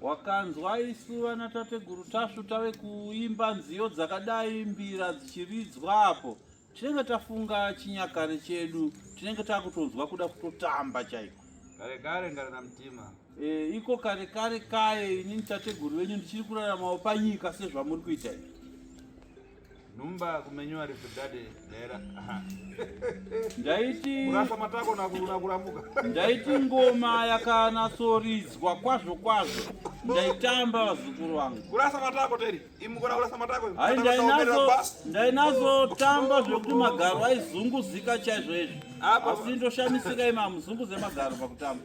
Wakanzwa isu vana tateguru Tasvu tave kuimba nziyo dzakadai mbira dzichiridzwa apo tinenge tafunga chinyakare chedu tinenge takutonzwa kuda kutotamba chaiko kare kare ngarina mutima e, iko kare kare kaye inini tateguru venyu ndichiri kuraramawo panyika sezvamuri kuita izvi Numba kumenywa rifu dade dera. Ndaiti kurasa matako na kuruna kuramuka. Ndaiti ngoma yakana sorizwa kwazvo kwazvo. Ndaitamba vazukuru wangu. Kurasa matako teri. Imukora kurasa matako. Hai ndainazo ndainazo tamba zvekuti magaro aizunguzika chaizvo izvi. Asi ndoshamisika ima muzunguze magaro pakutamba.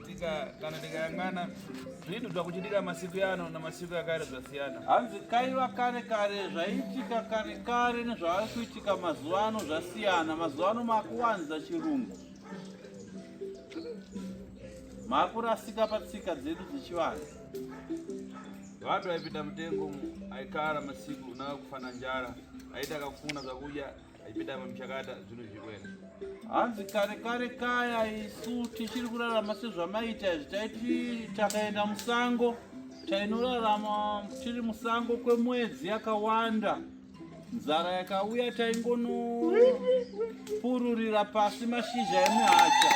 tika kana tikayang'ana zvinotibva kuchitika masiku yano namasiku yakare zvasiyana hanzi kaiva kare kare zvaiitika kare kare nezvavari kuitika mazuva ano zvasiyana mazuva ano makuwanza chirungu makurasika patsika dzedu dzechivanhu vatu vaipinda mutengo aikara masiku unaa kufana njara aita kakufuna zvakudya Ipidama mchakata zvinhu zvikwena. Hanzi kare kare kaya isu tichiri kurarama sezvamaita izvi taiti takaenda musango tainorarama tiri musango kwemwedzi yakawanda nzara yakauya taingonopururira pasi mashizha emuhacha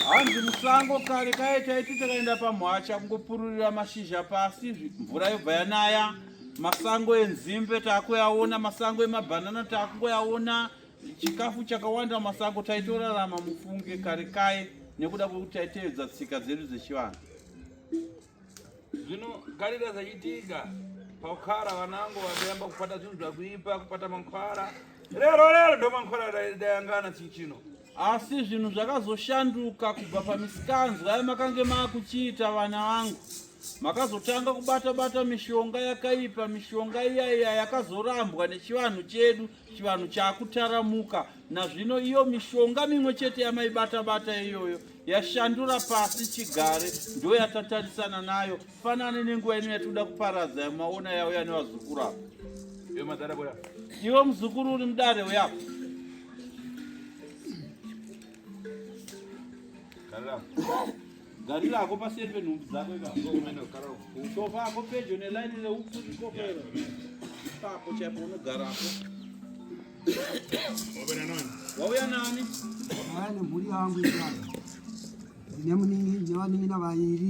hanzi musango kare kaye taiti takaenda pamuhacha kungopururira mashizha pasi mvura yobva yanaya Masango enzimbe takuyaona, masango emabhanana takungoyaona, chikafu chakawanda masango taitorarama mufunge kare kaye nekuda kwekuti taitevedza tsika dzedu dzechivanhu. Zvino garira zvachitika pakukara vanango vakayamba kupata zvinhu zvakuipa kupata mankwara rero rero ndomankwara dayangana chii chino asi zvinhu zvakazoshanduka kubva pamisikanzwa yamakange maakuchiita vana vangu makazotanga kubata bata mishonga yakaipa mishonga iya iya yakazorambwa nechivanhu chedu chivanhu chakutaramuka nazvino iyo mishonga mimwe chete yamaibata bata iyoyo yashandura pasi chigare ndoyatatarisana nayo Fanane nenguva ino yatinoda kuparadza yamaona yauya nevazukuru apa. Iyo madhara boya. Iwe muzukuru uri mudare uya apa. Karira. Garira ako paseri penhumbi dzako ikaka. Sofa ako pedyo nelaini reupfu ikokero. Ipapo chaipo unogara apo. Wauya nani? Wauya nemhuri yangu ikaka. Ndine muningi, ndine vaningi navaviri.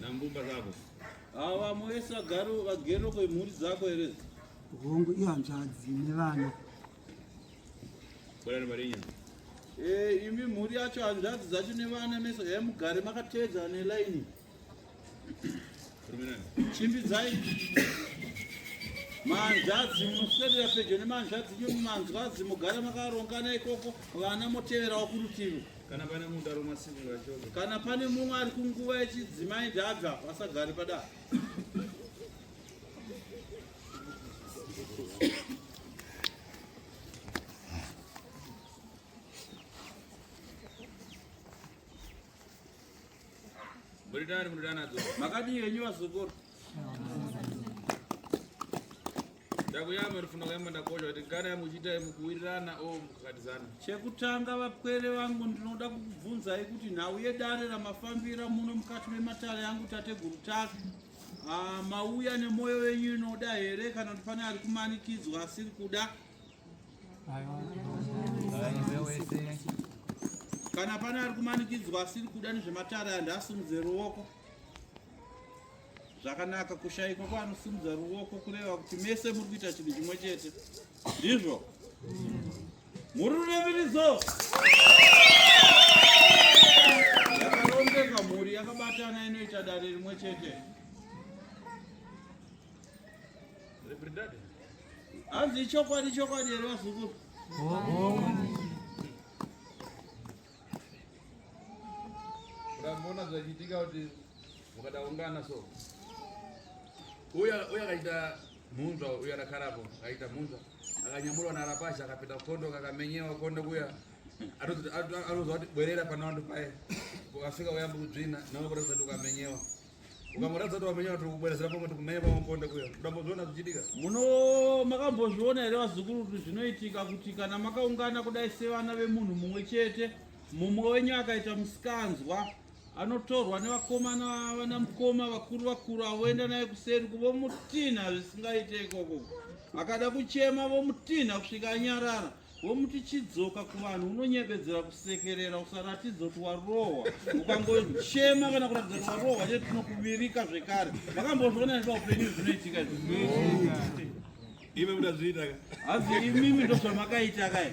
Nambumba zako. Awa moesa garo vagero kwe mhuri dzako here? Hongu iyo hanzvadzi nevana. Bwana Marinya. Eh, imi mhuri yacho hanzvadzi dzacho nevana mese hemugare makateedza ne line. Chimbidzai manzvadzi munoswedera pedyo nemanzvadzi nyu manzvadzi mugara makarongana ikoko vana moteverawo kurutivi kana pane munhu ari masimura chose kana pane mumwe ari kunguva yechidzimai ndabva vasagari padaro Buritani kunoda nadzo. Makati yenyu vazukuru. Ndakuyama rifuna kuyama ndakocha kuti kana muchiita mukuwirirana o oh, mukakatizana. Chekutanga vapwere vangu ndinoda kukubvunzai kuti nhau yedare ramafambira muno mukati mematare yangu tateguru take. Ah, mauya nemoyo wenyu inoda here kana kuti pane ari kumanikidzwa asiri kuda? Kana pane ari kumanikidzwa asiri kuda nezvematare andi asimudze ruoko. Zvakanaka kushaikwa kwaanosimudza ruoko kureva kuti mese muri kuita chinhu chimwe chete. Ndizvo. Muri rureviridzo. Yakarongeka mhuri yakabatana inoita dare rimwe chete. Reprendade. Hanzi ichokwadi chokwadi here vazukuru? Ndamboona zvachiitika kuti mukadaungana so. Uya uya akaita munzwa uya rakarapo akaita munzwa akanyamurwa narapashi akapinda kondo kakamenyewa kondo kuya anozwa kuti bwerera panowandu paye ukasvika uyambi kudzvina nawe kuratidza kuti ukamenyewa ukamuratidza kuti wamenya kuti kubwerezera pamwe kuti kumenya pamwe ponde kuya kudambozviona zvichiitika muno makambozviona here vazukuru kuti zvinoitika kuti kana makaungana kudai sevana vemunhu mumwe chete mumwe wenyu akaita musikanzwa anotorwa nevakomana vana mukoma vakuru vakuru avo voenda naye kuseri kuvomutinha zvisingaite ikoko akada kuchema vomutinha kusvika anyarara womuti chidzoka kuvanhu unonyebedzera kusekerera usaratidza kuti warohwa ukangochema kana kuratidza kuti warohwa chete tinokuvirika zvekare vakambozviona nda upenyu zvinoitika imi mudazviita hazi imimi ndozvamakaita kai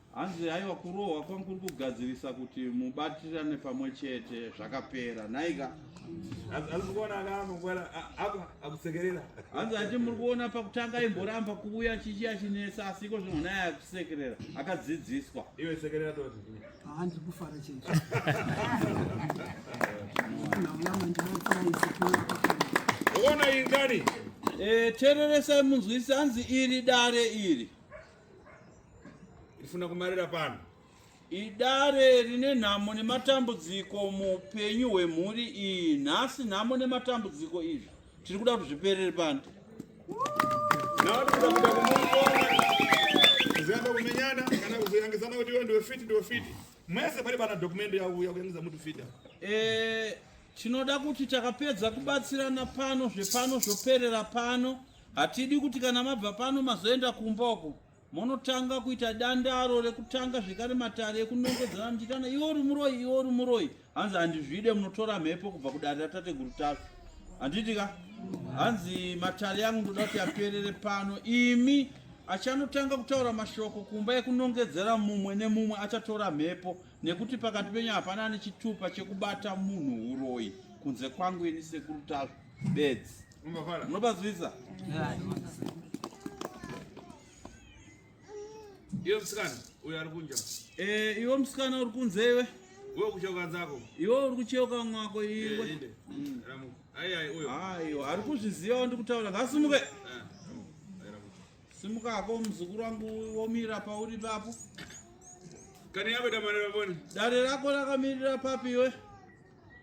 Hanzi haiwa kurohwa kwangu kuri kugadzirisa kuti mubatirane pamwe chete zvakapera nhaika hanzi ati muri kuona pakutanga aimboramba kuuya chichi achinetsa asi iko zvino naye akusekerera akadzidziswa iwe sekerera toti handi kufara chete uona ingani eh, tereresai munzwisi hanzi iri dare iri ndifuna kumarira pano idare rine nhamo nematambudziko muupenyu hwemhuri iyi nhasi nhamo nematambudziko izvi tiri kuda kuti zviperere pano kumenyana kana kuzoyangisana kuti iwe ndiwe fiti ndiwe fiti mwese pari pana dokumende yauya kuyangisa muti fita eh, tinoda kuti takapedza kubatsirana pano zvepano zvoperera pano Hatidi kuti kana mabva pano mazoenda kumba uko monotanga kuita dandaro rekutanga zvekare matare ekunongedzana muchiitana iwe uri muroyi iwe uri muroyi hanzi handizvide munotora mhepo kubva kudare ratateguru tafi handiti ka hanzi matare yangu ndoda kuti aperere pano imi achanotanga kutaura mashoko kumba ekunongedzera mumwe nemumwe achatora mhepo nekuti pakati penyu hapana nechitupa chekubata munhu uroyi kunze kwangu ini sekuru tazvo bedzi Munobazwisa? Iwe msikana uyo ari kunja. Eh, iwe msikana uri kunze iwe. Wewe kucheuka dzako. Iwe uri kucheuka mwako iwe. Eh, mm. Ramu. Ai ai uyo. Aiwa, ari kuzviziva ndi kutaura ngasumuke. Eh, Simuka hako mzukuru wangu womira pauri papo. Kani yabe damare baboni. Dare rako rakamirira papi iwe?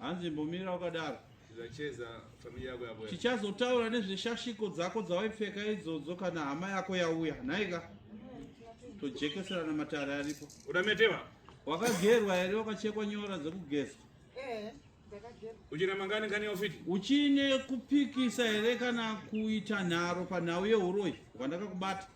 hanzi mbomira wakadaro tichazotaura nezveshashiko dzako dzawaipfeka idzodzo kana hama yako yauya nhaika tojekeserana matare aripo udametewa wakagerwa here wakachekwa nyora dzekugeza eh, uchina mangani kani ofiti uchine kupikisa here kana kuita nharo panhau yeuroyi hwandakakubata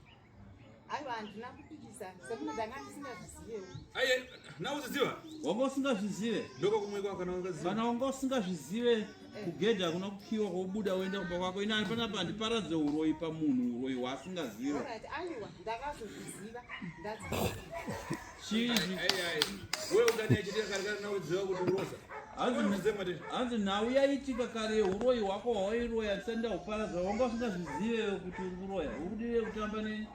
aiwa handina kupikisa sekuti ndanga ndisingazvizivewo aye na uziziva wanga usingazvizive ndoko kumwe kwako kana ungaziva kana wanga usingazvizive eh. kugedha hakuna kukiwa kwobuda woenda kumba kwako ini handipana pa ndiparadze uroyi pamunhu uroyi hwaasingazive aiwa ndakazozviziva hanzi nhau yaitika kare uroyi hwako hwairoya tisanda kuparadza wanga usingazvizive kuti uri kuroya uri kudire kutamba neni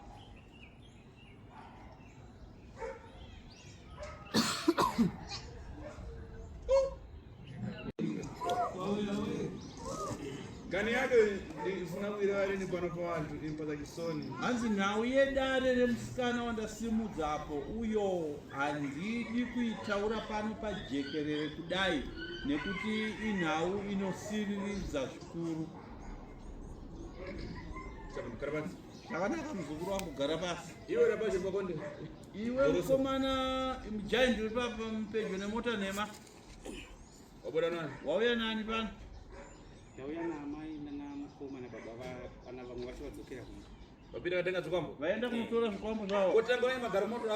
kani yake ndifuna kuirevareni pano pavantu impaka chisoni hanzi nhau yedare remusikana wandasimudza apo uyo handidi kuitaura pano pajekerere kudai nekuti inhau inosiriridza zvikuru zvakanaka muzukuru wangu gara pasi iwe rabaje pakonde iwe mukomana mjaindi uri papa pedyo nemota nhema Wabuda nani? Wauya nani pano? Ndauya na amai na mukoma na baba va vana vamwe vacho vadzokera kumba. Vapinda vatenga zvikwambo? Vaenda kunotora zvikwambo zvavo. Kotanga wai magaro moto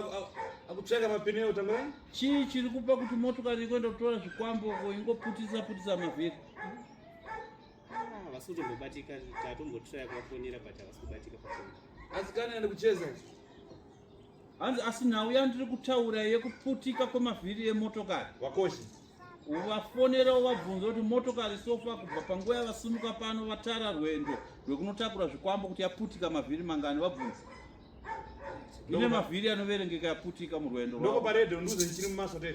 akutsvaka mapine eyo tanga wai? Chii chiri kupa kuti motokari ikuenda kutora zvikwambo ingoputisa putisa mavhiri? Ah, vasi kutombobatika tatombotraya kuvafonera but havasi kubatika pafoni. Asi kana ende kucheza ichi? hanzi asi nhau yandiri kutaura yekuputika kwemavhiri emotokari vakoshi uvafonera uvabvunza kuti motokari sofa kubva panguva yavasimuka pano vatara rwendo rwekunotakura zvikwambo kuti yaputika mavhiri mangani vabvunza ine mavhiri anoverengeka yaputika murwendo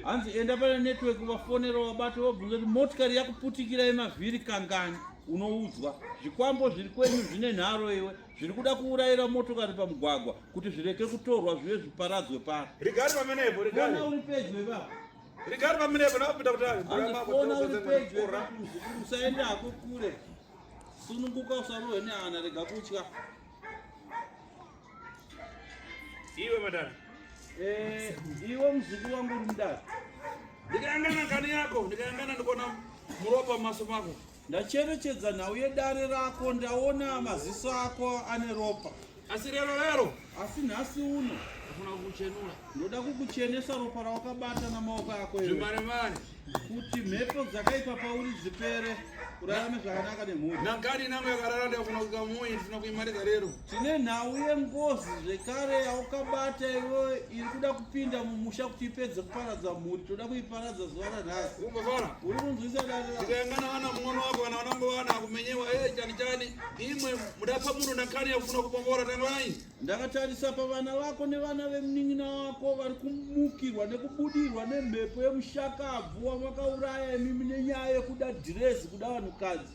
hanzi enda pane network vafonera vabati vabvunza kuti motikari yakuputikira yemavhiri kangani unoudzwa zvikwambo zviri kwenyu zvine nharo iwe zviri kuda kuurayira motokari pamugwagwa kuti zvireke kutorwa zvive zviparadzwe pano rigari pamenepo rigari uri pedyo ipapa rigari pamenepo nakupinda kutaona uri pedyo usaende hako kure sununguka usarohwe nehana rega kutya iwe madara eh, iwe muzukuru wangu uri mudara ndikayangana kani yako ndikayangana ndikuona muropa maso mako Ndacherechedza nhau yedare rako ndaona maziso ako ane ropa. Asi rero rero. Asi nhasi uno. Ndafuna kukuchenura. Ndoda kukuchenesa ropa rawakabata namaoko ako iwe. Zvimare mare. Kuti mhepo dzakaipa pauri dzipere. Urarame zvakanaka nemhuri. Nangani nangu yakarara ndafuna kukamuyi ndifuna kuimaridza rero. Tine nhau yengozi zvekare yaukabata iwe iri kuda kupinda mumusha kuti ipedze kuparadza mhuri toda kuiparadza zuva ranhasi uri kunzwisa daaana vana mung'ono wako vana vanango vana kumenyewa e eh, chani chani imwe mudapa munhu nakani yakufuna kubombora tangwai ndakatarisa pavana vako nevana vemunin'ina wako vari kumukirwa nekubudirwa nemhepo yemushakabvu wamwakauraya imimi nenyaya yekuda dhirezi kuda vanhukadzi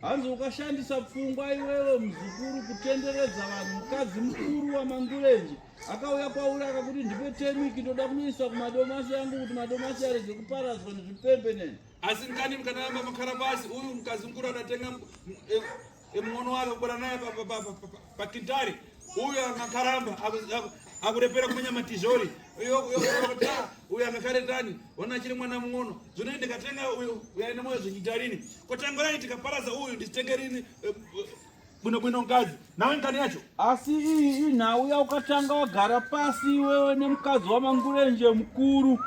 Hanzi ukashandisa pfungwa iwewe muzukuru kutenderedza vanhu mukadzi mukuru wamangurenje akauya kwauri akakuti ndipe temiki ndoda kunoisa kumadomasi yangu kuti madomasi arege kuparadzwa nezvipembe neni asi ndani mkanayamba makharabasi uyu mukadzi mukuru adatenga emwono eh, eh, wake kubara naye Pakintari uyo akakaramba akurepera kumenya matizhori uyo akakaretani ona achiri mwana muono zvino ndikatenga uyo uyaine moyo zvichitarini kotangurai tikaparaza uyu ndichitenge rini eh, bwino bwino mukadzi nawe nkani yacho asi iyi nhau yaukatanga wagara pasi iwewe nemukadzi wamangurenje mukuru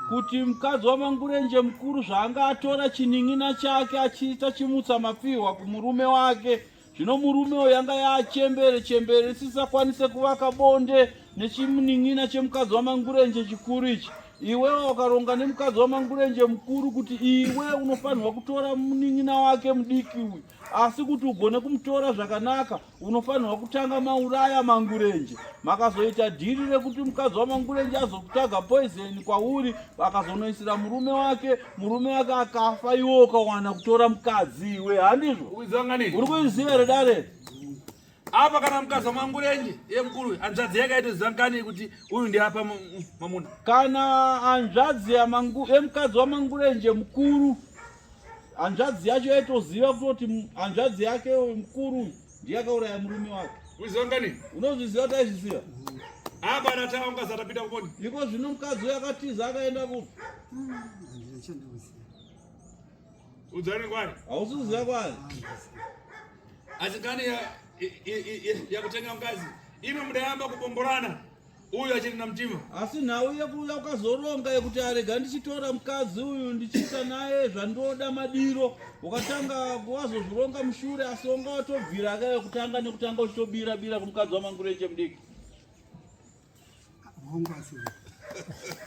kuti mukadzi wamangurenje mukuru zvaanga atora chinin'ina chake achiita chimutsa mapfihwa kumurume wake zvino murume uyo yanga yaachembere chembere isisakwanise kuvaka bonde nechimunin'ina chemukadzi wamangurenje chikuru ichi iwewe wakaronga nemukadzi wamangurenje mukuru kuti iwe unofanirwa kutora munin'ina wake mudiki uyu asi kuti ugone kumutora zvakanaka unofanirwa kutanga mauraya mangurenje makazoita dhiri rekuti mukadzi wamangurenje azokutaga poizeni kwauri akazonoisira murume wake murume wake akafa iwe ukawana kutora mukadzi iwe handizvo uri kuiziva here dare apa kana mukadzi wamangurenje iye mukuru hanzvadzi yake aitoziva ngani kuti uyu ndiapa mamuna kana hanzvadzi yemukadzi wamangurenje mukuru hanzvadzi yacho yaitoziva kutoti hanzvadzi yake mukuru Ndiye akauraya murume wako. Uziva ngani? Unozviziva taizviziva. Hapa na tawa ngaza tapita kuponi. Iko zvino mkadzi uya akatiza akaenda kupi? Udzani kwani? Ausiziva kwani? Asi kani ya ya kutenga mkazi. Ino mdayamba kubomborana. uyu achiri namtima asi nhau yekuuya ukazoronga yekuti arega ndichitora mukadzi uyu ndichiita naye zvandoda madiro ukatanga wazozvironga mushure asi wanga watobvira ka yekutanga nekutanga uchitobira bira kumukadzi wamangureche mudiki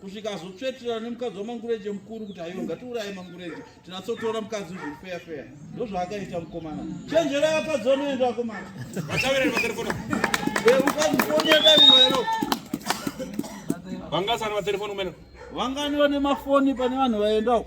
kusvika azotsveterana nemukadzi wamangureje mukuru kuti aiwa ngatiuraye mangureje tinatsotora mukadzi zviri feya feya ndozvaakaita mukomana chenjera vakadzi vanoenda vakomana vangasani vatelefoni umene vangani vane mafoni pane vanhu vaendawo